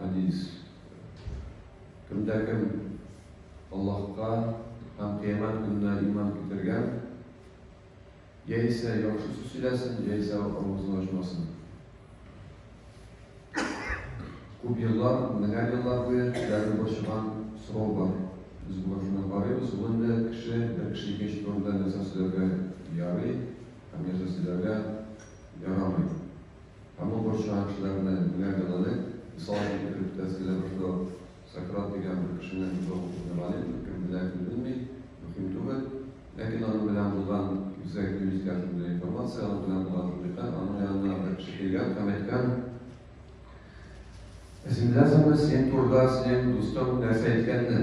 Хадис. Кемдә кем Аллаһка һәм кыямәт көненә иман китергән, яисә яхшы сүз сөйләсен, яисә авызын ачмасын. Күп еллар, меңәр еллар буе кешеләрне борчыган сорау бар. Без бу машина карыйбыз, ул инде кеше, бер кеше икенче турында нәрсә сөйләргә ярый, һәм нәрсә сөйләргә ярамый. Һәм ул борчыган кешеләрне генә гәүдәләй. Мисал өчен, фикер йөртәсе килә башлау, Сократ дигән бер кешене бик зур укучы галим, кем белә, кем белми, мөһим түгел. Ләкин аның белән булган үзәк юнескә шундый информация, аның белән булган шундый хәл, аның янына бер кеше килгән һәм әйткән, Ә син беләсеңме, синең турыда синең дустың нәрсә әйткәнне?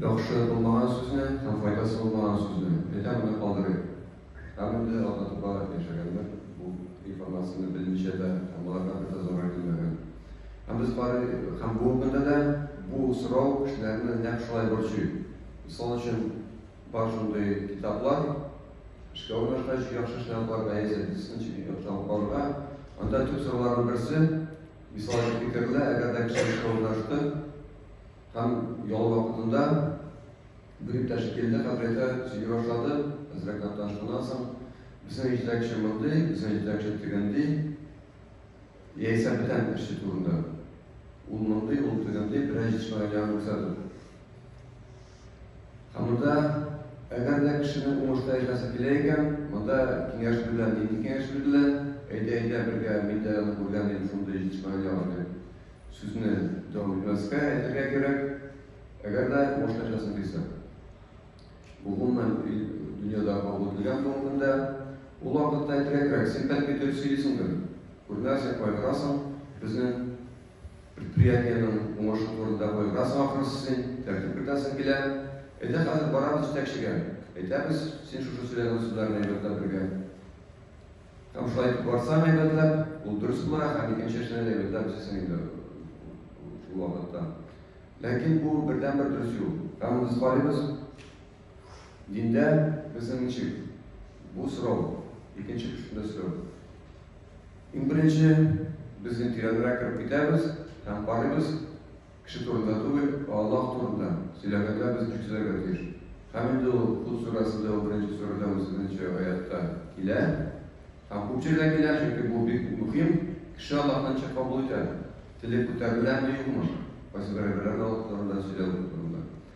Яхшы булмаган сүзне һәм файдасы булмаган сүзне әйтә моны калдырыйк. Һәм инде ата тупа яшәгәннәр бу информацияне белмичә дә, һәм аларга бер дә зарар килмәгән. Һәм без бары һәм бу көндә дә бу сорау кешеләрне нәкъ шулай борчый. Мисал өчен, бар шундый китаплар, эшкә урнашкач, яхшы эшләрне кылырга яисә дисциплин чикләвен карарга. Анда төп сорауларның берсе, Мисал өчен фикерле, әгәр дә кеше шаулашты һәм ял вакытында бер иптәш килде, хәзрәте сөйли башлады, хәзрәт Нәтташ шуннан соң безнең җитәкче мондый, безнең җитәкче тегенди, яисә бүтән кеше турында. Ул мондый, ул тегенди, берәй җисмәгән ягын күрсәтеп. Ә монда, әгәр дә кешенең уңышта яшәсе килә икән, монда киңәш бирелә, нинди киңәш бирелә? Әйдә, әйдә, бергә, мин дә аны күргән идем, шундый җитешмәгән ягын дип, сүзне дәвам итмәскә, әйтергә кирәк, әгәр дә уңышта яшәсең килсә. Бу гомумән дөньяда кабул ителгән бүгенге көндә. Ул вакытта әйтергә кирәк, син бәлки дөрес сөйлисеңдер, күренәсең, кайгырасың, безнең Предприятиенең уңышы турында кайгырасың ахрысы син, тәртип кертәсең килә. Әйдә хәзер барабыз җитәкчегә, әйтәбез, син шушы сөйләгән сүзләрне әйбәтләп биргән. Һәм шулай итеп барсаң әйбәтләп, ул дөрес була, һәм икенче эшне дә әйбәтләп эшлисең инде шул вакытта. Ләкин бу бердәнбер дөрес юл. Һәм без карыйбыз, Диндә безнең ничек? Бу сорау икенче кешедән сорау. Иң беренче без тирәнрәк кереп китәбез һәм карыйбыз кеше турында түгел, Аллаһ турында сөйләгәндә без ничек сөйләргә тиеш. Һәм инде ул Худ сүрәсендә, ул беренче сүрәдә, ул сигезенче аятта килә. Һәм күп җирдә килә, чөнки бу бик мөһим. Кеше Аллаһны ничек кабул итә? Теле күтәреләме, юкмы? Кайсы бер әйберләр Аллаһ турында сөйләү турында.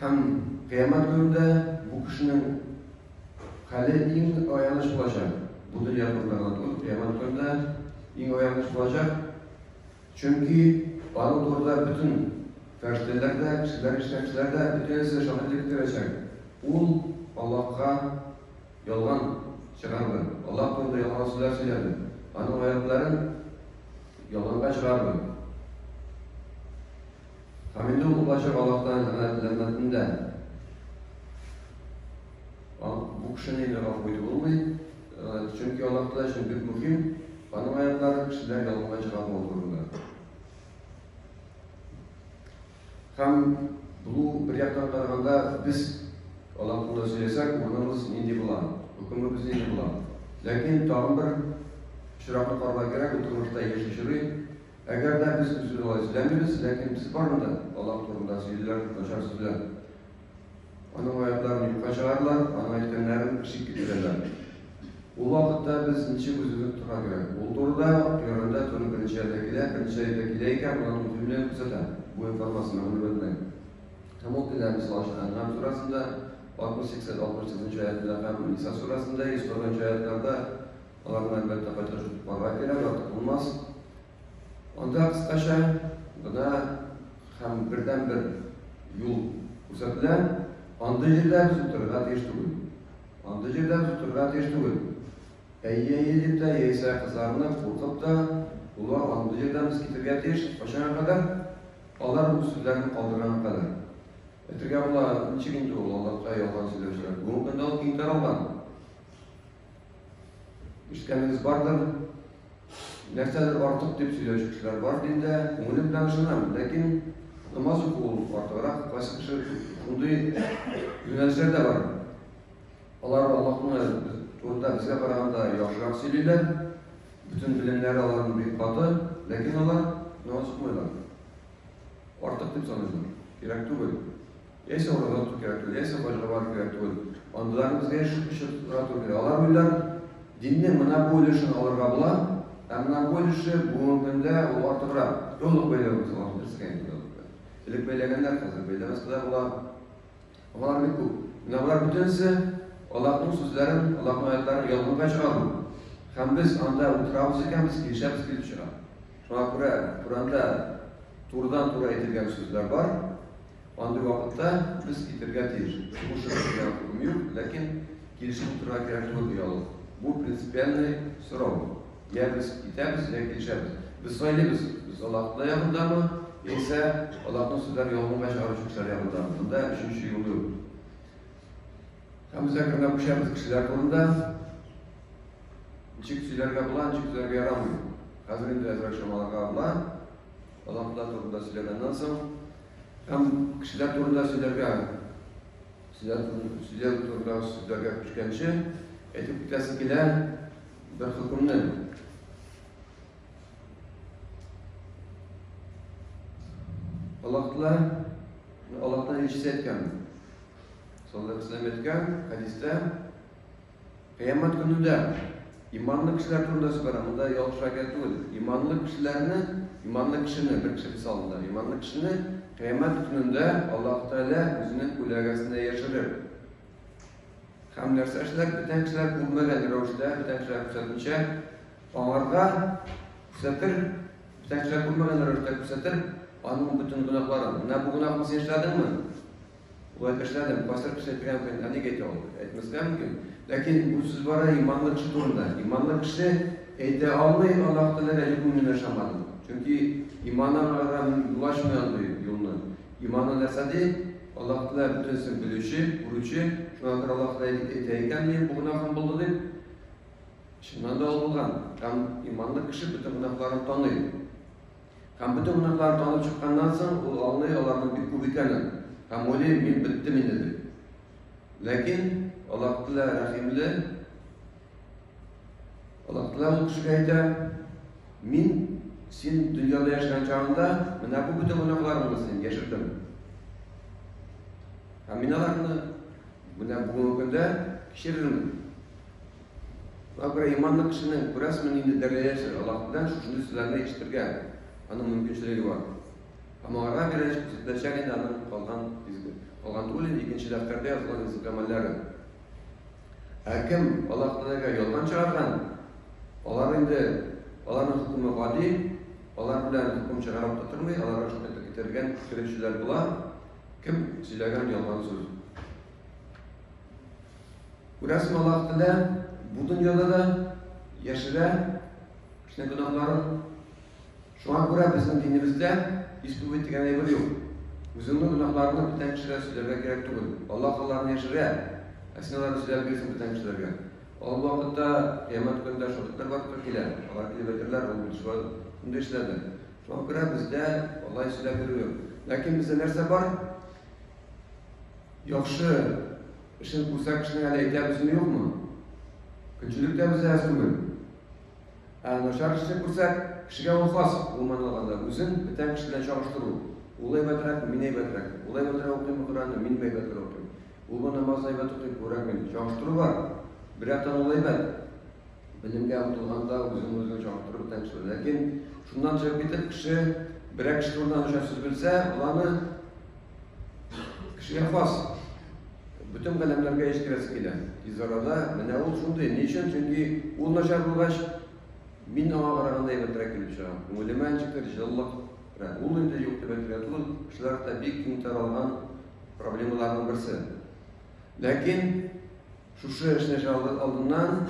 Һәм кыямәт көнендә бу кешенең хәле иң аяныч булачак. Бу дөнья турында гына түгел, кыямәт көнендә иң аяныч булачак. Чөнки аның турында бөтен фәрештәләр дә, кешеләр, кешеләр дә бөтенесе шаһит итеп керәчәк. Ул Аллаһка ялган чыгарды. Аллаһ турында ялган сүзләр сөйләде. Аның аятларын ялганга чыгарды. Хәмиднең ул кайчак Аллаһтан ганаәтләнмәден дә. Ан, бу кешене инде гафу итеп булмый, чөнки Аллаһ Тәгалә өчен бик мөһим, аның аятлары кешеләр ялганга чыгармау турында. Һәм бу бер яктан караганда без Аллаһ турында сөйләсәк, урыныбыз нинди була, хөкемебез нинди була. Ләкин тагын бер очракны карарга кирәк, бу тормышта яши чорый, Әгәр дә без үзен алай сөйләмибез, ләкин без барны да Аллаһ турында сөйлиләр дип начар сөйләр. Аның аятларын юкка чыгаралар, аның әйткәннәрен шик китерәләр. Ул вакытта без ничек үзебез торырга кирәк? Ул турыда Коръәндә туры беренче аятта килә, беренче аятта килә икән, монда ул бөтенләй күрсәтә бу информация мәгълүматны. Һәм ул килә мисал өчен Ән'ам сүрәсендә 68-69 нчы аятта һәм Ниса сүрәсендә 140 нчы аятларда Аларны, әлбәттә, кайтарып җыеп куарга кирәк, артык булмас. Анда кыскача гына һәм бердәнбер юл күрсәтелә. Андый җирдә без утырырга тиеш түгел. Андый җирдә без утырырга тиеш түгел. Әйе-әйе дип тә, яисә кызарынып, куркып та, улар андый җирдән без китергә тиеш. Кайчанга кадәр? Алар үз сүзләрен калдырганга кадәр. Әйтергә була, ничек инде ул, аллакай, ялган сөйләүчеләр. Бүгенге көндә ул киң таралган. Ишеткәнегез бардыр, нәрсәдер артык дип сөйләүче кешеләр бар, мин дә күңелем белән ышанам, ләкин намаз уку ул артыграк, кайсы кеше шундый юнәлешләр дә бар. Алар Аллаһны турында безгә караганда яхшырак сөйлиләр, бөтен белемнәре аларның бик каты, ләкин алар намаз укымыйлар. Артык дип саныйлар, кирәк түгел. Яисә урамнан туп ярату, яисә башкалар яратуын. Андыйлар безгә эш чыгыла түгел. Алар уйлар, динне мына бу өлешен алырга була, ә мына бу өлеше бүгенге көндә ул артыграк. Яулык бәйләү без алар белсәң инде яулыкны. Элек бәйләгәннәр, хәзер бәйләмәсә дә була. Алар бик күп. Менә болар бөтенесе Аллаһның сүзләрен, Аллаһның аятларын ялганга чыгару. Һәм без анда утырабыз икән, без килешәбез килеп чыга. Шуңа күрә Коранда турыдан-туры әйтелгән сүзләр бар, Андый вакытта без китергә тиеш. Сугыш эшләргә хокукым юк, ләкин килешеп утырырга кирәк түгел, ди алып. Бу принципиальный сорау. Йә без китәбез, йә килешәбез. Без сайлыйбыз, без Аллаһның ягындамы, яисә Аллаһның сүзләрен ялганга чыгарып чүкүчеләр ягындамы. Монда өченче юл юк. Һәм без әкренләп күчәбез кешеләр турында. Ничек сөйләргә була, ничек сөйләргә ярамый. Хәзер инде әзрәк чамаларга була. Аллаһлар турында сөйләгәннән соң һәм кешеләр турында сөйләргә, сөйләр турында сүзләргә күчкәнче әйтеп китәсе килә бер хөкемне. Аллаһлар Аллаһтан ишетә икән. Саллаллаху алейһи ва сәлләм әйткән хәдистә Кыямәт көне дә иманлы кешеләр турында сөйләгән, монда ялгыш әкият түгел. Иманлы кешеләрне, иманлы кешене, бер кеше мисалында, иманлы кешене кыямәт көнендә Аллаһ Тәгалә үзенең күләгәсенә яшерер. Һәм нәрсә эшләр? Бүтән кешеләр күрмәгән рәвештә, бүтән кешеләр күрсәтмичә, аңарга күрсәтер, бүтән кешеләр күрмәгән рәвештә күрсәтер аның бөтен гөнаһларын. Менә бу гөнаһны син эшләдеңме? Болай эшләдем, пастор кешегә әйтергә мөмкин, ә ник әйтә ул? Әйтмәскә мөмкин. Ләкин бу сүз бара иманлы кеше турында. Иманлы кеше әйтә алмый, Аллаһ Тәгаләгә юкмы мин ышанмадым. Чөнки иманнан арада мин юл ачмый андый юлны. Иманы нәрсә ди? Аллаһ Тәгалә бөтенесен белүче, күрүче, шуңа күрә Аллаһ Тәгалә әйтә икән, ни бу гөнаһым булды дип. Чыннан да ул булган. Һәм иманлы кеше бөтен гөнаһларын таный. Һәм бөтен гөнаһларын танып чыкканнан соң, ул аңлый аларның бик күп икәнен һәм уйлый, мин беттем инде дип. Ләкин Аллаһ Тәгалә рәхимле. Аллаһ Тәгалә ул кешегә әйтә, мин син дөньяда яшәгән чагында менә бу бөтен гөнаһларыңны син яшердем. Һәм мин аларны менә бүгенге көндә кичерермен. Габре иманлы кешенең күрәсме нинди дәрәҗәсе Аллаһтан шушындый сүзләрне ишетергә аның мөмкинчелеге бар. Һәм аңарга бирәч күрсәтеләчәк инде аның калган изге, калган түгел инде икенче дәфтәрдә язылган изге гамәлләре. Ә кем Аллаһ Тәгаләгә ялган чыгарган, алар инде аларның хөкеме гади, алар белән хөкем чыгарып та тормый, аларга шул итеп китергән керүчеләр була, кем сөйләгән ялган сүз. Күрәсең, Аллаһ телә, бу дөньяда да яшерә кечкенә гөнаһларын. Шуңа күрә безнең динебездә исповедь дигән әйбер юк. Үзеңнең гөнаһларыңны бүтән кешегә сөйләргә кирәк түгел. Аллаһ аларны яшерә, ә син аларны сөйләп бирсең бүтән кешеләргә. Ал вакытта кыямәт көнендә шаһитлар барып килә, алар килеп әйтерләр, ул бит шулай инде эшләде. Шуңа күрә бездә алай сөйләп йөрү юк. Ләкин бездә нәрсә бар? Яхшы эшен күрсә кешенең әле әйтәбез ни юкмы? Көнчелек тә безгә әз түгел. Ә начар эшне күрсәк, кешегә ул хас, гомумән алганда, үзен бөтен кеше белән чагыштыру. Ул әйбәтрәк, мин әйбәтрәк. Ул әйбәтрәк укыйм Коръәнне, мин әйбәтрәк укыйм. Ул бу намазны әйбәт укый, күрәк мин. Чагыштыру бар. Бер яктан ул әйбәт. Белемгә омтылганда үзен үзен чагыштырып бөтен кеше. Ләкин шуннан чыгып китеп кеше берәк кеше турында начар сүз белсә, ул аны Кешегә хас. Бөтен галәмнәргә ишкерәсе килә. Тиз арада менә ул шундый. Ни өчен? Чөнки ул начар булгач, мин аңа караганда әйбәтрәк килеп чыгам. Күңелемә ничектер җылылык керә. Ул инде юк дип әйтергә түгел, кешеләр дә бик киң таралган проблемаларның берсе. Ләкин шушы эшне чалгы алдыннан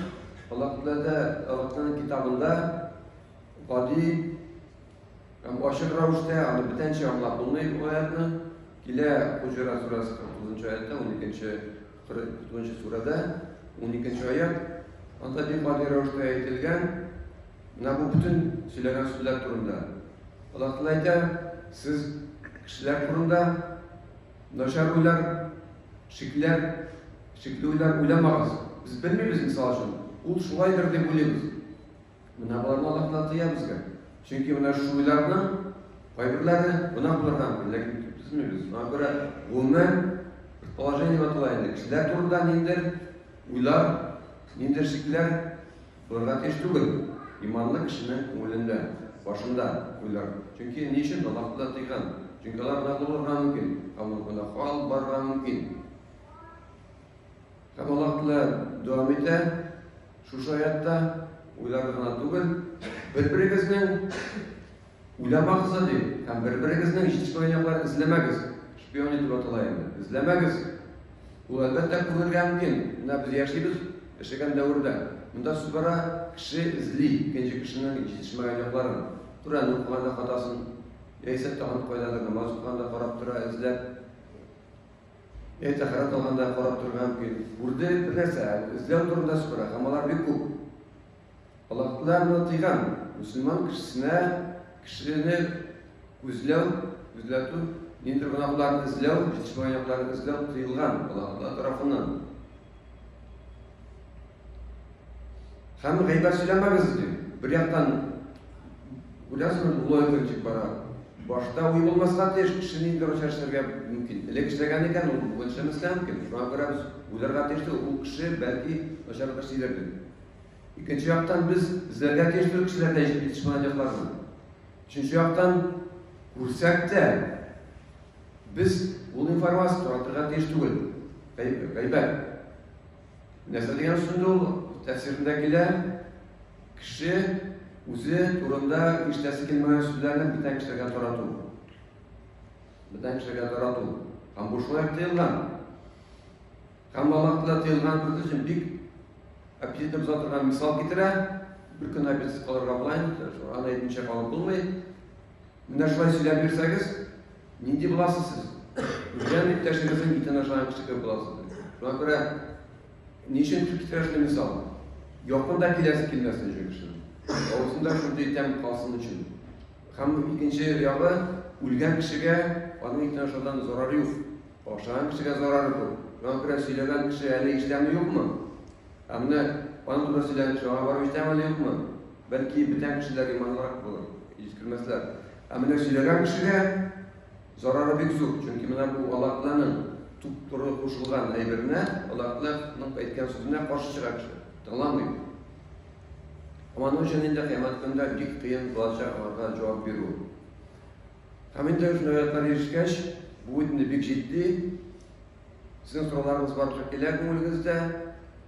Аллаһ Тәгалә Аллаһның китабында гади Һәм ачык рәвештә аны бүтәнчә аңлап булмый бу аятны. Килә Хуҗра сурәсе 49 аятта, 12-нче 49-нчы сурәдә, 12-нче аят. Анда бик гади рәвештә әйтелгән, менә бу бүтән сөйләгән сүзләр турында. Аллаһ Тәгалә әйтә, сез кешеләр турында начар уйлар, шикләр, шикле уйлар уйламагыз. Без белмибез, мисал өчен, ул шулайдыр дип уйлыйбыз. Менә аларны Аллаһтан тыя безгә. Чөнки менә шул уйларның кайберләре гына булырдан бер ләкин төзмибез. Шуңа күрә гомумән предположение дип атала инде. Кешеләр турында ниндер уйлар, ниндер шикләр булырга тиеш түгел. Иманлы кешенең күңелендә, башында уйлар. Чөнки ни өчен Аллаһта тыйган? Чөнки алар гына булырга мөмкин. Аллаһ гына хал барырга мөмкин. Һәм Аллаһ дәвам итә. Шушы аятта уйлар гына түгел, бер-берегезнең уйламагыз да ди, һәм бер-берегезнең җитешмәгән якларын эзләмәгез. Шпион итеп атала инде. Эзләмәгез. Ул әлбәттә күрергә мөмкин. Менә без яшибез яшәгән дәвердә. Монда сүз бара, кеше эзли икенче кешенең җитешмәгән якларын. Коръән укыганда хатасын, яисә тагын кайдадыр намаз укыганда карап тора, эзләп. Әйтә карап торганда карап торган мөмкин. Үрдә бер нәрсә, эзләү турында сукыра, һәм алар бик күп. Аллаһ Тәгалә моны тыйган. Мөселман кешесенә кешене үзләү, үзләтү, ниндидер гөнаһларны эзләү, җитешмәгән якларны эзләү тыелган Аллаһ Тәгалә тарафыннан. Һәм гайбәт сөйләмәгез ди. Бер яктан күрәсезме, бу логика ничек бара? Башта уй булмаска тиеш, кеше нинди рольчә эшләргә мөмкин. Элек эшләгән икән, ул бүген эшләмәскә мөмкин. Шуңа күрә без уйларга тиеш түгел, ул кеше бәлки начарлыкка сизер дип. Икенче яктан без эзләргә тиеш түгел кешеләрдә җитешмәгәнлекләрне. Өченче яктан күрсәк тә без ул информация таратырга тиеш түгел. Гайбәт. Нәрсә дигән сүз ул? Тәфсирендә килә, кеше үзе турында ишетәсе килмәгән сүзләрне бүтән кешеләргә тарату. Бүтән кешеләргә тарату. Һәм бу шулай тыелган. Һәм Аллаһ Тәгалә тыелган кыз өчен бик аппетитны боза торган мисал китерә. Бер көн аппетит калырга була инде, аны әйтмичә калып булмый. Менә шулай сөйләп бирсәгез, Нинди буласыз сез? Үзләрен иптәшегезнең итен ашаган кеше кебек буласыз. Шуңа күрә ни өчен тик китерәсез мисал? Якында киләсе килмәсен өчен кешенең. Авызында шундый тәм калсын өчен. Һәм икенче ягы, үлгән кешегә аның итен ашаудан зарар юк. Ашаган кешегә зарар күп. Шуңа күрә сөйләгән кеше әле ишетәме юкмы? Ә менә аның турында сөйләгән кеше аңа барып ишетәме әле юкмы? Бәлки бүтән кешеләр иманлырак булыр, искермәсләр. Ә менә сөйләгән кешегә зарары бик зур, чөнки менә бу Аллаһның туп-туры кушылган әйберенә, Аллаһның әйткән сүзенә каршы чыга кеше, тыңламый. Моның өчен инде кыямәт көндә бик кыен булачак аларга җавап бирү. Һәм инде шундый аятьләр ирешкәч, бу инде бик җитди. Сезнең сорауларыгыз барлык килә күңелегездә.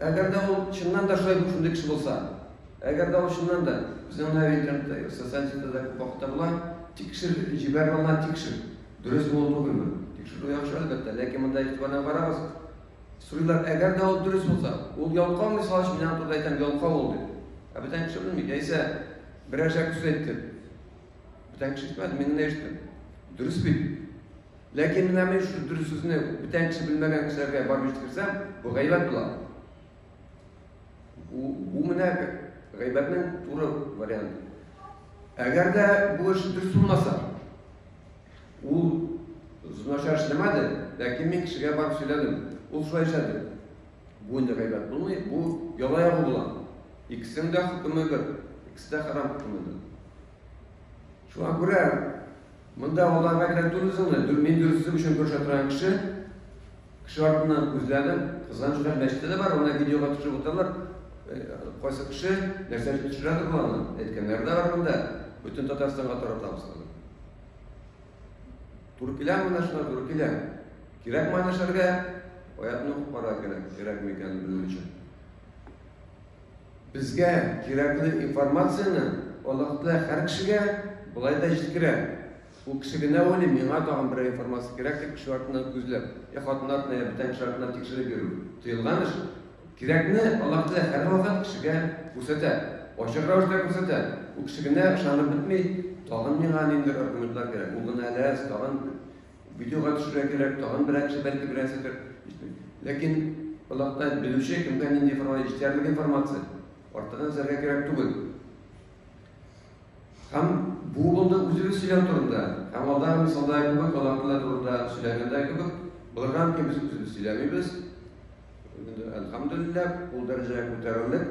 Әгәр дә ул чыннан да шулай шундый кеше булса, әгәр дә ул чыннан да безнең менә интернетта, социаль челтәрдә күп вакытта була, тикшер, җибәрмә гына тикшер. Дөрес булу түгелме? Тикшерү яхшы әлбәттә, ләкин монда игътибардан карагыз. Сорыйлар, әгәр дә ул дөрес булса, ул ялкау мисал өчен мин турыда әйтәм, ялкау ул дип. Ә бүтән кеше белми, яисә берәр җак сүз әйтте. Бүтән кеше ишетмәде, мин генә ишеттем. Дөрес бит. Ләкин менә мин шул дөрес сүзне бүтән кеше белмәгән кешеләргә барып ишеткерсәм, бу гайбәт була. Бу, бу менә гайбәтнең туры варианты. Әгәр дә бу эш дөрес булмаса, ул начар эшләмәде, ләкин мин кешегә барып сөйләдем. Ул шулай эшләде. Бу инде гайбәт булмый, бу яла ягу була. Икесенең дә хөкеме бер, икесе дә харам хөкемендә. Шуңа күрә Монда аларга генә түгел соң әле, мин дөресен өчен көрәшә торган кеше, кеше артыннан үзләре кызганыч белән мәчеттә дә бар, аны видеога төшереп утыралар. Кайсы кеше нәрсә өчен төшерәдер боларны? Әйткәннәре дә бар монда. Бөтен Татарстанга таратабыз аны. Туры киләме менә шулар, туры килә. Кирәкме аны эшләргә? Аятны укып карарга кирәк, кирәкме икәнен белү өчен. Безгә кирәкле информацияне Аллаһ Тәгалә һәр кешегә болай да җиткерә. Ул кеше генә уйлый, миңа тагын берәр информация кирәк, дип кеше артыннан күзләп, йә хатын артыннан, йә бүтән кеше артыннан тикшереп йөрү тыелган эш. Кирәкне Аллаһ Тәгалә һәрвакыт кешегә күрсәтә, ачык рәвештә күрсәтә. Ул кеше генә ышанып бетми, тагын миңа ниндидер аргументлар кирәк, ул гына ләс, тагын Видеога төшергә кирәк, тагын берәрсе бәлки берәрседер. Ләкин Аллаһта белүче кемгә нинди информация, җитәрлек информация. Артыгын эзләргә кирәк түгел. Һәм бу булды үзебез сөйләү турында. Һәм алдагы мисалда кебек, аллаһлар турында сөйләгәндә кебек, булган ки без үзебез сөйләмибез. Әлхәмдулиллах, ул дәрәҗәгә күтәрелдек.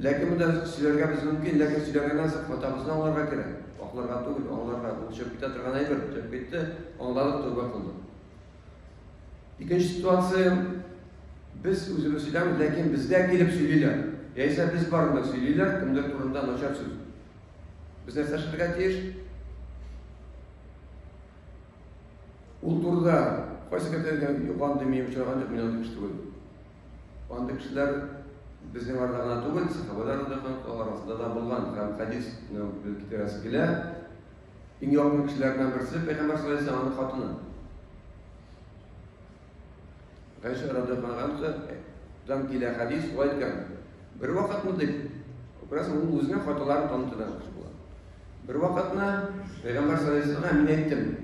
Ләкин бу да сөйләргә без мөмкин, ләкин сөйләгәннән соң хатабызны аңларга кирәк. Акларга түгел, аңларга. Ул төшеп китә торган әйбер, төшеп китте, аңладык, тәүбә кылдык. Икенче ситуация, без үзебез сөйләмибез, ләкин безгә килеп сөйлиләр. Яисә без барында сөйлиләр, кемдер турында начар сүз. Без нәрсә эшләргә тиеш? Ул турыда кайсы кәтәргә юган димим, чарган димим, мин аны Андый кешеләр безнең арада гына түгел, сахабәләр рәдә халыклары арасында да булган һәм хәдис белән бүлеп китерәсе килә. Иң якын кешеләреннән берсе Пәйгамбәр саллаллаху алейһи аның хатыны. Гайша радиаллаһу дан килә хәдис шулай икән. Бер вакытны дип, бераз ул үзенә хаталарын танытырга була. Бер вакытны Пәйгамбәр саллаллаху алейһи мин әйттем.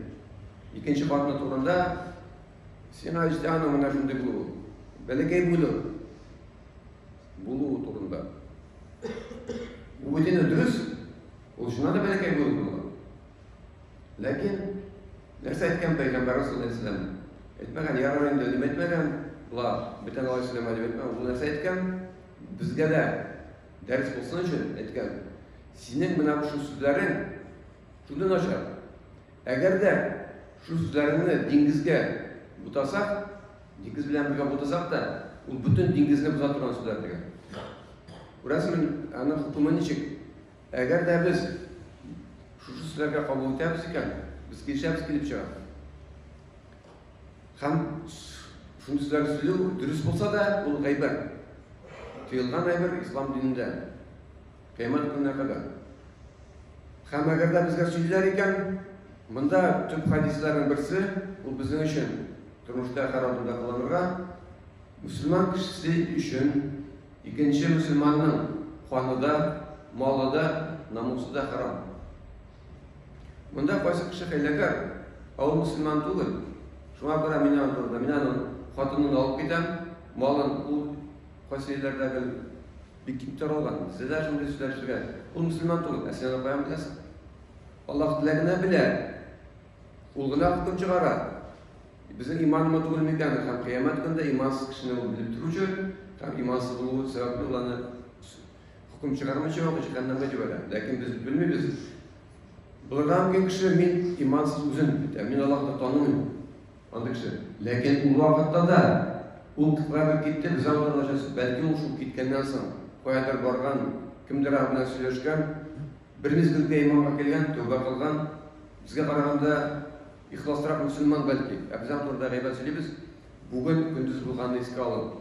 Икенче хатыны турында Син Айстяның менә шундый булуы, бәләкәй буйлы булуы турында. Бу бөтенләй дөрес. Ул шуна да бәләкәй буйлы була. Ләкин нәрсә әйткән пәйгамбәр Расулуллаһ ислам? Әйтмәгән, ярар инде дип әйтмәгән. Булар, бөтен алай сөйләмә дип әйтмәгән. Ул нәрсә әйткән? Безгә дә дәрес булсын өчен әйткән. Синең менә шул сүзләрең шундый начар. Әгәр дә шул сүзләреңне диңгезгә бутасак, диңгез белән бергә бутасак та, ул бөтен диңгезне боза торган сүзләр дигән. Күрәсең, аның хөкеме ничек? Әгәр дә без шушы сүзләргә кабул итәбез икән, без килешәбез килеп чыга. Һәм шундый сүзләр сөйләү дөрес булса да, ул гайбәт. Тыелган әйбер ислам динендә. Кыямәт көненә кадәр. Һәм әгәр дә безгә сөйләр икән, монда төп хадисларның берсе, ул безнең өчен тормышта һәр адымда кыланырга, мөселман кешесе өчен икенче мөселманның каны да, малы да, намусы да харам. Монда кайсы кеше хәйләкәр, ә ул мөселман түгел. Шуңа күрә мин аны турыда, мин аның хатынын алып китәм, малын ул кайсы илләрдәге Бик киң таралган. Зөлә шундый сүзләр сөйләр. Ул мөселман түгел, ә син аны каян беләсең? Аллаһ диләр генә белә. Ул гына хөкем чыгара. Безнең иманмы түгел микән? Һәм кыямәт көндә имансыз кешене ул белеп торучы, һәм имансыз булуы сәбәпле ул аны хөкем чыгармыйча ук җәһәннәмгә җибәрә. Ләкин без белмибез. Булырга мөмкин кеше мин имансыз үзен итә. Мин Аллаһны танымыйм. Андый кеше. Ләкин ул вакытта да ул квартир китте, без аңлар начасы. Бәлки ул шул киткәннән соң, каядыр барган, кемдер белән сөйләшкән, бер мизгелгә иманга килгән, тәүбә кылган, безгә караганда ихласрак мөселман бәлки. Ә без аңларда гайбәт сөйлибез. Бүген көндез булганны искә алып,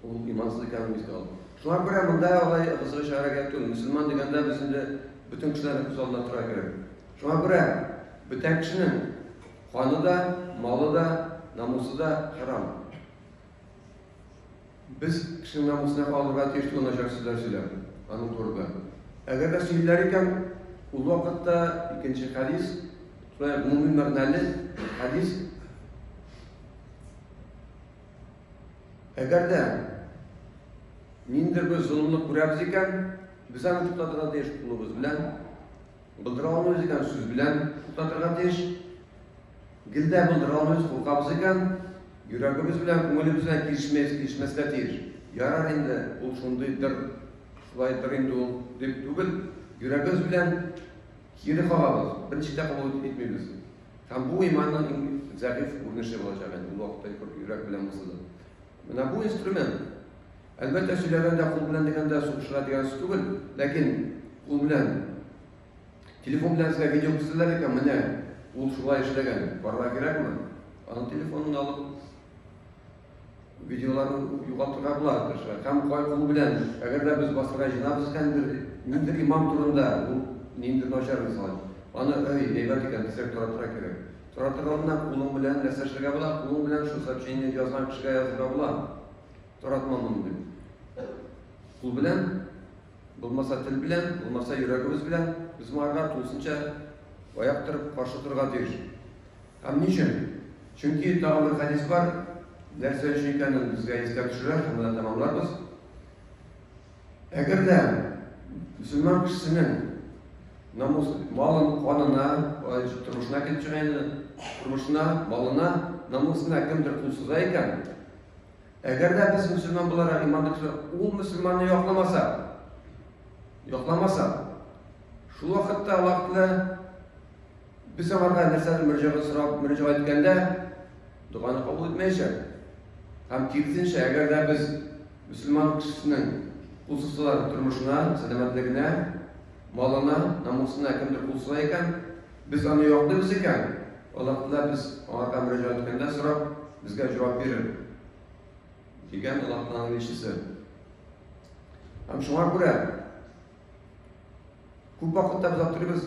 Ул имансыз икәнен искә алды. Шулар белән монда алай кызыгы чыгара кирәк түгел. Мөселман дигәндә без инде бөтен кешеләрне күз алдына тора кирәк. Шуңа күрә бөтен кешенең каны да, малы да, намусы да харам. Без кешенең намусына калырга тиеш түгел начар сүзләр сөйләп, аның турында. Әгәр дә сөйләр икән, ул вакытта икенче хадис, шулай гомуми мәгънәле хадис Әгәр дә ниндидер бер золымлык күрәбез икән, без аны туктатырга тиеш кулыбыз белән, булдыра алмыйбыз икән, сүз белән туктатырга тиеш. Гел дә булдыра алмыйбыз, куркабыз икән, йөрәгебез белән, күңелебез белән килешмәс, килешмәскә тиеш. Ярар инде, ул шундыйдыр, шулайдыр инде ул дип түгел, йөрәгебез белән кире кагабыз, берничек тә кабул итмибез. Һәм бу иманның иң зәгыйфь күренеше булачак инде, ул вакытта йөрәк белән булса да. Менә бу инструмент. Әлбәттә, сөйләгәндә кул белән дигәндә сугышырга дигән сүз түгел, ләкин кул белән телефон белән сезгә видео күрсәтәләр икән, менә ул шулай эшләгән, барырга кирәкме? Аның телефонын алып Видеолар югалтырга була тырыша һәм кай кул белән, әгәр дә без басырга җыенабыз һәм бер ниндидер имам турында, ул ниндидер начар инсан, аны ай, әйбәт икән дисәк, таратырга кирәк. Таратыр алдыннан кулың белән нәрсә эшләргә була? Кулың белән шул сообщение язган кешегә язырга була. Таратма моны дип. Кул белән, булмаса тел белән, булмаса йөрәгебез белән без моңарга тулысынча аяк торып каршы торырга тиеш. Һәм ни өчен? Чөнки тагын бер хәдис бар, нәрсә өчен икәнен безгә искә төшерә, шуны да тәмамларбыз. Әгәр дә мөселман кешесенең намус малын канына, тормышына килеп чыга инде, тормышына, малына, намусына кемдер кул суза икән, әгәр дә без мөселман буларак иман кешеләр, ул мөселманны якламаса, якламаса, шул вакытта Аллаһ Тәгалә Без аңарга нәрсәдер мөрәҗәгать сорап мөрәҗәгать иткәндә, доганы кабул итмәячәк. Һәм киресенчә, әгәр дә без мөселман кешесенең кул сузсалар тормышына, сәламәтлегенә, малына, намусына кемдер кул суза икән, без аны яклыйбыз икән, Аллаһ Тәгалә без аңарга мөрәҗәгать иткәндә сорап, безгә җавап бирер. Дигән Аллаһ Тәгаләнең илчесе. Һәм шуңа күрә Күп вакытта без аптырыйбыз,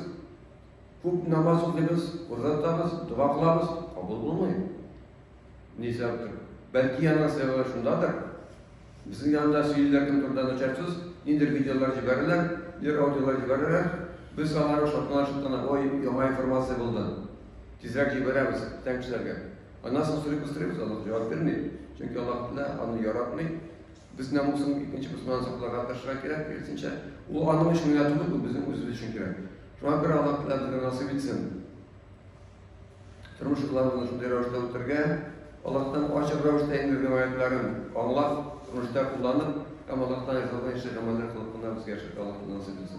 күп намаз укыйбыз, урда тотабыз, дога кылабыз, кабул булмый. Ни сәбәптер? Бәлки яна сәбәбе шундадыр. Безнең янда сөйлиләр кем турында начар сүз, ниндер видеолар җибәрәләр, ниндер аудиолар җибәрәләр. Без аларны шатлана шатлана, ой, яңа информация булды. Тизрәк җибәрәбез бүтән кешеләргә. Аннан соң сорыйбыз, сорыйбыз, Аллаһ җавап бирми. Чөнки Аллаһ Тәгалә аны яратмый. Без намусын икенче кыздан сакларга тырышырга кирәк, киресенчә, ул аның өчен генә түгел, бу безнең үзебез өчен кирәк. Шуңа күрә Аллаһ Тәгалә безгә насыйп итсен. Тормыш юлларыбызны шундый рәвештә үтәргә, Аллаһтан ачык рәвештә инде риваятларын аңлап, тормышта кулланып, һәм Аллаһтан ризалык итүче гамәлләр кылып кына безгә яшәргә Аллаһ насыйп итсен.